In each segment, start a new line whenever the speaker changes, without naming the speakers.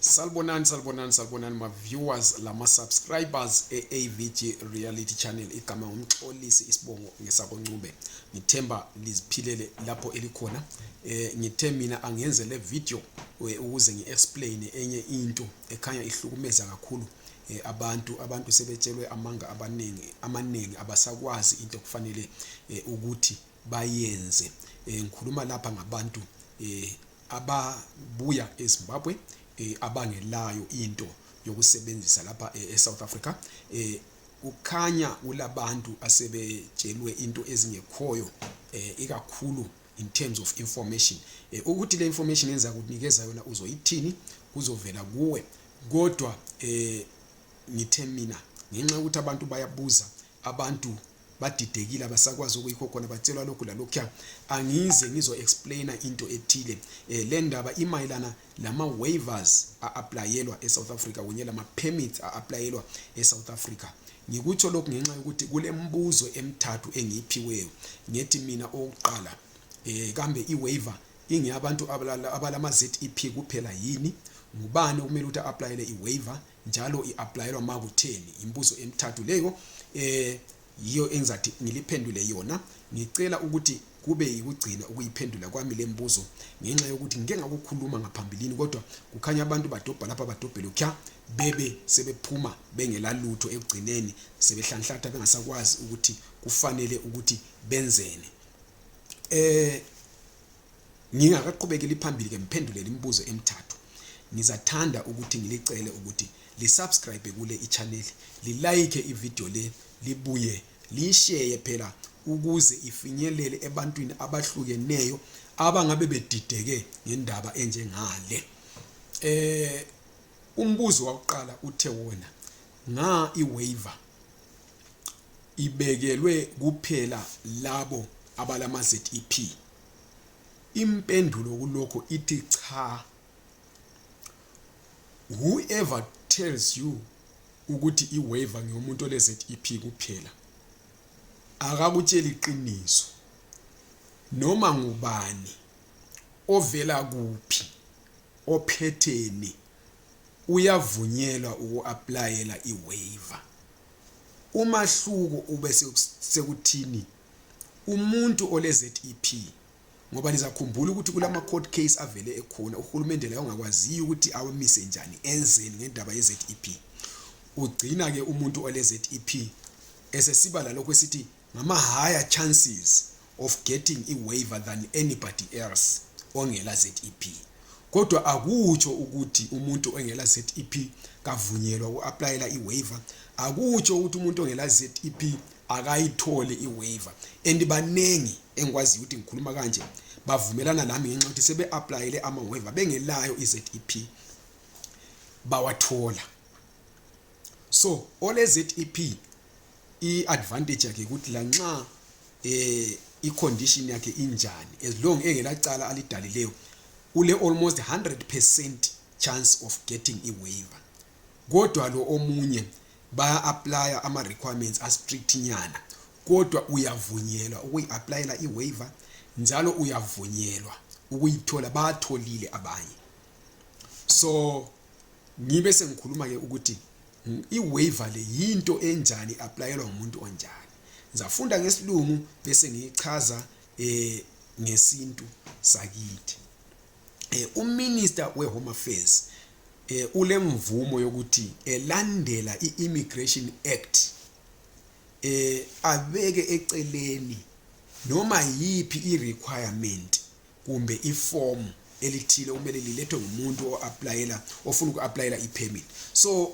Salbonani salbonani salbonani ma viewers lama subscribers eAVG Reality Channel igama ngumxolisi isibongo ngesabo Ncube ngithemba liziphilele lapho elikhona eh ngithe mina angenze le video eh, ukuze ngiexplain enye into ekhanya ihlukumeza kakhulu eh, abantu abantu sebetshelwe amanga abaningi amaningi abasakwazi into kufanele eh, ukuthi bayenze eh, ngikhuluma lapha ngabantu eh ababuya ezimbabwe eh, abangelayo into yokusebenzisa lapha eh, esouth africa eh, kukhanya kulabantu asebetshelwe into ezingekhoyo eh, ikakhulu in terms of information eh, ukuthi le information enza kunikeza yona uzoyithini kuzovela kuwe kodwa eh, ngithe mina ngenxa yokuthi abantu bayabuza abantu badidekile abasakwazi okuyikho khona batshelwa lokhu lalokhuya angize ngizo explaina into ethile eh, le ndaba imayelana lama-waivers a-aplayelwa e-south africa kunye lama-permits a-aplayelwa e-south africa ngikutsho lokhu ngenxa yokuthi kulembuzo emthathu engiyiphiweyo ngethi mina owokuqala um kambe i-waiver ingeyabantu abalama-zep kuphela yini ngubani okumele ukuthi a-aplayele i-waiver njalo i-aplayelwa ma kutheni yimbuzo emithathu leyo eh yiyo engizathi ngiliphendule yona ngicela ukuthi kube yikugcina ukuyiphendula kwami le mbuzo ngenxa yokuthi ngike ngakukhuluma ngaphambilini kodwa kukhanya abantu badobha lapha badobhele kya bebe sebephuma bengela lutho ekugcineni sebehlanhlatha bengasakwazi ukuthi kufanele ukuthi benzeni eh Ngingakaqhubekeli phambili ke mphendulele imibuzo emithathu. Ngizathanda ukuthi ngilicele ukuthi li subscribe kule i channel, li like i video le, libuye liyishare phela ukuze ifinyelele ebantwini abahlukeneyo abangabe bedideke ngendaba enjengale. Eh umbuzo wakuqala uthe wona nga i waiver ibekelwe kuphela labo abalama ZEP Impendulo kulokho ithi cha. Whoever tells you ukuthi iwaiver ngeyomuntu ole ZEP kuphela akakutsheli iqiniso. Noma ngubani ovela kuphi ophetheni uyavunyelwa ukuaplayela iwaiver. Umahluko ube sekuthini umuntu ole ZEP ngoba nizakhumbula ukuthi kulama court case avele ekhona uhulumende laye ongakwaziyo ukuthi awamise njani enzeni ngendaba ye ZEP ugcina ke umuntu ole ZEP esesiba lalokho esithi ngama higher chances of getting a waiver than anybody else ongela ZEP kodwa akutsho ukuthi umuntu ongela ZEP kavunyelwa ukuapplyela iwaiver akutsho ukuthi umuntu ongela ZEP akayitholi iwaiver and baningi engikwaziyo ukuthi ngikhuluma kanje bavumelana nami ngenxa yokuthi sebe-aplayele ama-waiver bengelayo i-zep bawathola so ole-zep i-advantage yakhe ukuthi lanxa um eh, i-condition yakhe injani as long engelacala alidalileyo ule-almost 100 percent chance of getting i-waiver kodwa lo omunye baya aplaya ama requirements a strict nyana kodwa uyavunyelwa ukuyi-aplayela i-waiver njalo uyavunyelwa ukuyithola batholile abanye so ngibe sengikhuluma ke ukuthi i-waiver le yinto enjani aplayelwa umuntu onjani ngizafunda ngesilungu bese ngiyichaza eh ngesintu sakithi eh uminister wehome affairs eh, ulemvumo yokuthi elandela i-immigration act eh, abeke eceleni noma yiphi i-requirement kumbe iform elithile kumele lilethwe ngumuntu o-aplayela ofuna uku-aplayela i-permit so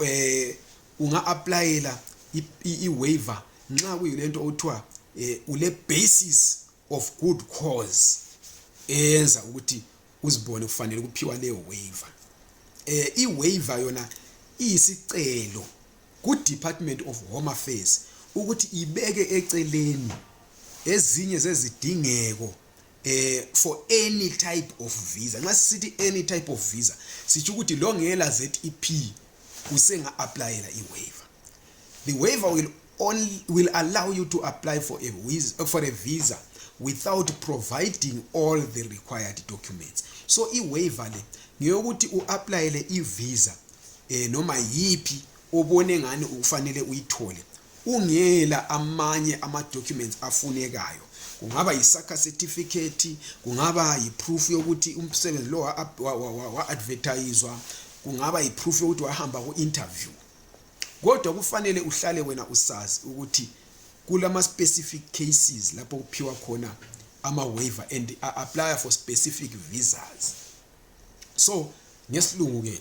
eh, unga-aplayela i-waiver nxa kuyilento okuthiwa eh, ule-basis of good cause eyenza ukuthi uzibone kufanele kuphiwa leyo waiver eh i waiver yona iyisicelo ku Department of Home Affairs ukuthi ibeke eceleni ezinye zezidingeko eh for any type of visa nxa sithi any type of visa sitsho ukuthi longela ZEP usenga-aplayela i-waiver the waiver will, only, will allow you to apply for a, visa, for a visa without providing all the required documents so i-waiver le ngeyokuthi u-aplayele i-visa um noma yiphi obone ngani ukufanele uyithole ungela amanye ama documents afunekayo kungaba yisakha certificate kungaba yiproof yokuthi umsebenzi lo wa-advertiswa kungaba yiproof yokuthi wahamba ku-interview kodwa kufanele uhlale wena usazi ukuthi kulama-specific cases lapho kuphiwa khona ama-waiver and a-apply for specific visas so ngesilungu-ke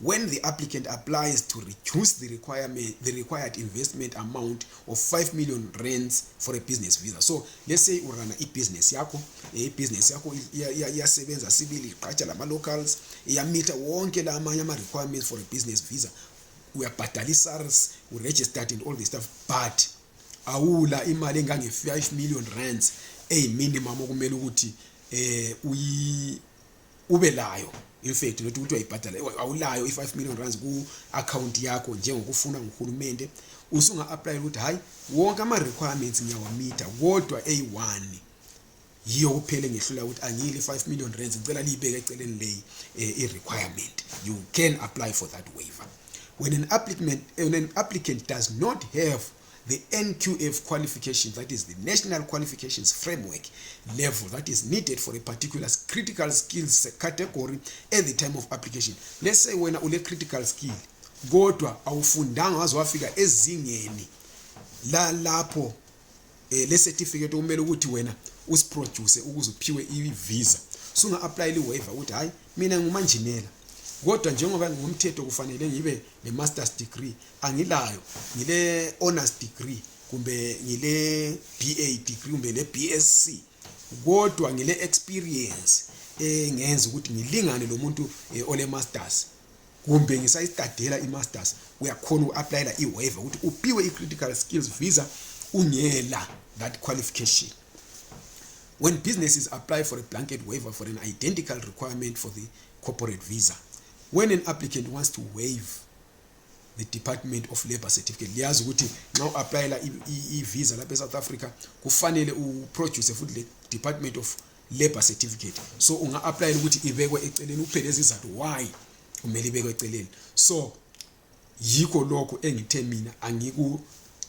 when the applicant applies to reduce the requirement the required investment amount of 5 million rands for a business visa so let's say urana ibusiness yakho eh, ibusiness yakho iyasebenza sibili iqatsha lama-locals iyamitha wonke la amanye ama-requirements for a business visa uyabhadala i-sars uregistered and all the stuff but awula imali engange-5 million rands eyiminimum okumele ukuthi um ube layo imfethi nokuthi kuthiwa ibhadala awulayo i-5 million rands ku-akhawunti yakho njengokufuna nguhulumende usunga-aplayela ukuthi hhayi wonke ama-requirements ngiyawamitha kodwa eyi-one yiyo kuphela engihlula ukuthi angiyile 5 million rands ngicela liyibeke eceleni leyi eh, i-requirement you can apply for that waiver when an applicant, when an applicant does not have the NQF qualifications, that is the National Qualifications Framework level that is needed for a particular critical skills category at the time of application. Let's say when ule critical skill kodwa awufundanga waze wafika ezingeni lalapho eh, le certificate okumele ukuthi wena usiproduce ukuze uphiwe i-visa sunga-aplayela i-waiver ukuthi hhayi mina ngumanjinela kodwa njengoba ngumthetho kufanele ngibe le masters degree angilayo ngile honors degree kumbe ngile BA degree kumbe le BSc kodwa ngile experience engenza ukuthi ngilingane lomuntu eh, ole masters kumbe ngisayistadela i masters uyakhona uapplyela i waiver ukuthi upiwe i critical skills visa ungela that qualification when businesses apply for a blanket waiver for an identical requirement for the corporate visa when an applicant wants to waive the department of labor certificate liyazi ukuthi nxa u-aplayela i-visa lapha e-south africa kufanele uproduce futhi le department of labor certificate so unga-aplayela ukuthi ibekwe eceleni uphele izizathu why kumele ibekwe eceleni so yikho lokhu engithe mina angiku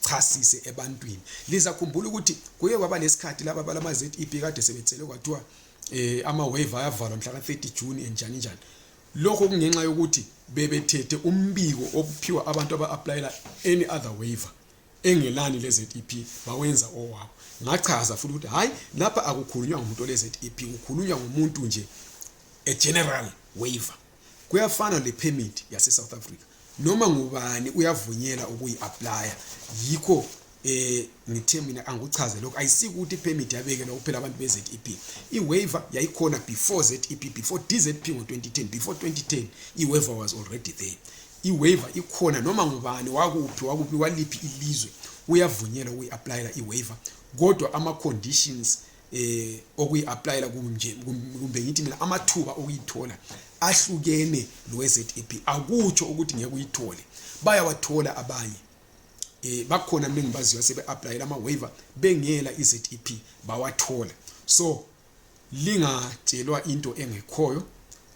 chasise ebantwini lizakhumbula ukuthi kuye kwaba lesikhathi laba balama ZEP kade sebethelwe kwathiwa eh ama wave ayavalwa mhla ka 30 June enjani njani lokho kungenxa yokuthi bebethethe umbiko obuphiwa abantu aba applyela any other waiver engelani le ZEP bawenza owabo ngachaza futhi ukuthi hayi lapha akukhulunywa ngomuntu le ZEP kukhulunywa ngomuntu nje a general waiver kuyafana le permit yase South Africa noma ngubani uyavunyela ukuyi apply yikho eh ngithe mina angichaze lokho ayisikuthi permit yabekela kuphela abantu be ZEP i waiver yayikhona before ZEP before DZP ngo 2010 before 2010 i waiver was already there i waiver ikhona noma ngubani wakuphi wakuphi waliphi ilizwe uyavunyelwa ukuyi applyela i waiver kodwa ama conditions eh okuyiapplyela kunje kumbe ngithi mina amathuba okuyithola ahlukene loweZEP akutsho ukuthi ngeke uyithole bayawathola abanye eh bakhona mina ngibaziyo sebe apply lama waiver bengela iZEP bawathola so lingatshelwa into engekhoyo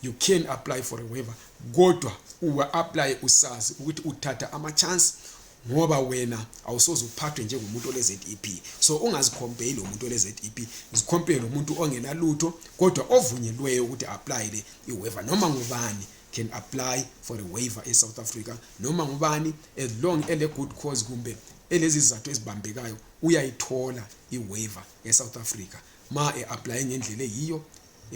you can apply for a waiver kodwa uwa apply usazi ukuthi uthatha ama chance ngoba wena awusoze uphathwe njengomuntu ole ZEP so ungazicompare lomuntu ole ZEP zicompare lomuntu ongena lutho kodwa ovunyelweyo ukuthi apply le i waiver noma ngubani can apply for a waiver in South Africa noma ngubani as long ele good cause kumbe elezizathu ezibambekayo uyayithola i waiver e South Africa ma e apply ngendlela eyiyo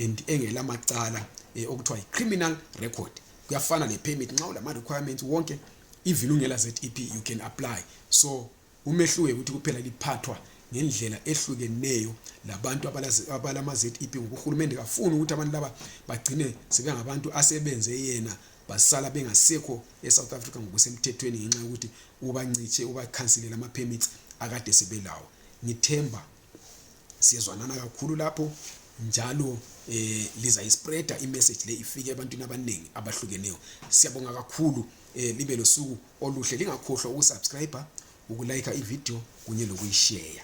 and engela macala eh, okuthiwa yi-criminal record kuyafana le-permit nxa ulama-requirements wonke even ungela zep you can apply so umehluke ukuthi kuphela liphathwa ngendlela ehlukeneyo labantu abalama-zep ngoba uhulumende kafuni ukuthi abantu laba bagcine sebengabantu asebenze yena basala bengasekho e-south africa ngokusemthethweni ngenxa yokuthi ubancitshe ubakhansilele ama-permits akade sebelawo ngithemba siyezwanana kakhulu lapho njalo eh lizayispreader imessage le ifike ebantwini abaningi abahlukeneyo siyabonga kakhulu eh libe losuku oluhle lingakhohlwa ukusubscribe ukulike ivideo kunye lokuyishare